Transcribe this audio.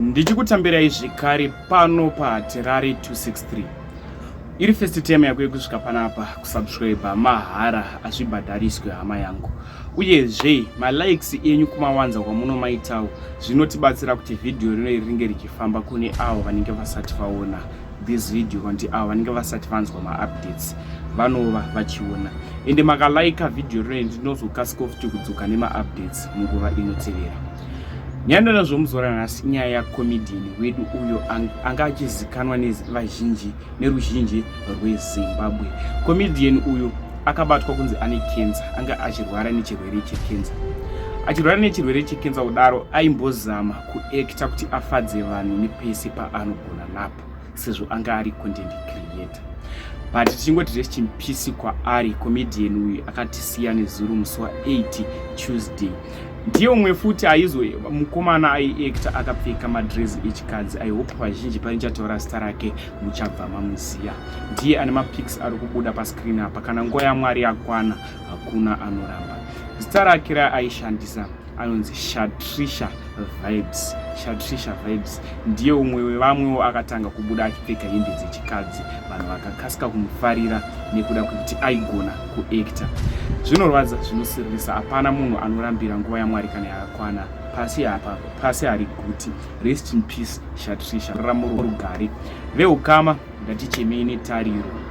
ndichikutambirai zvekare pano pahatirari 263 iri first time yako yekusvika panapa kusubscribe mahara hazvibhadhariswe hama yangu uyezve malikes enyu kumawanza kwamunomaitawo zvinotibatsira kuti vhidhiyo rino iri ringe richifamba kune avo vanenge vasati vaona this video kanti avo vanenge vasati vanzwa maupdates vanova vachiona ende makalaika vhidhiyo rino ndinozokasika futi kudzoka nemaupdates munguva inotevera Nyandara zvomuzora nhasi inyaya yakomedian wedu uyo anga achizikanwa nevazhinji neruzhinji rwezimbabwe komedian uyo akabatwa kunzi ane kenza anga achirwara nechirwere chekenza achirwara nechirwere chekenza kudaro aimbozama kuekta kuti afadze vanhu nepese paanogona napo sezvo anga ari content creator but tichingoti rest in peace kwaari comedian uyu akatisiya nezuro musi wa 8 tuesday ndiyo mwe futi aizo mukomana aiacta akapfeka madress echikadzi i hope vazhinji pane chataura zita rake muchabva mamuziya ndiye ane mapics ari kubuda pascreen apa kana nguva yamwari yakwana hakuna anoramba zita rake raaishandisa anonzi shatrisha vibes shatrisha vibes ndiye umwe wevamwewo akatanga kubuda achipfeka hembe dzechikadzi vanhu vakakasika kumufarira nekuda kwekuti aigona kuactor zvinorwadza zvinosiririsa hapana munhu anorambira nguva yamwari kana yakakwana pasi apa pasi hari guti rest in peace shatrisha raramo rugare veukama ngatichemei netariro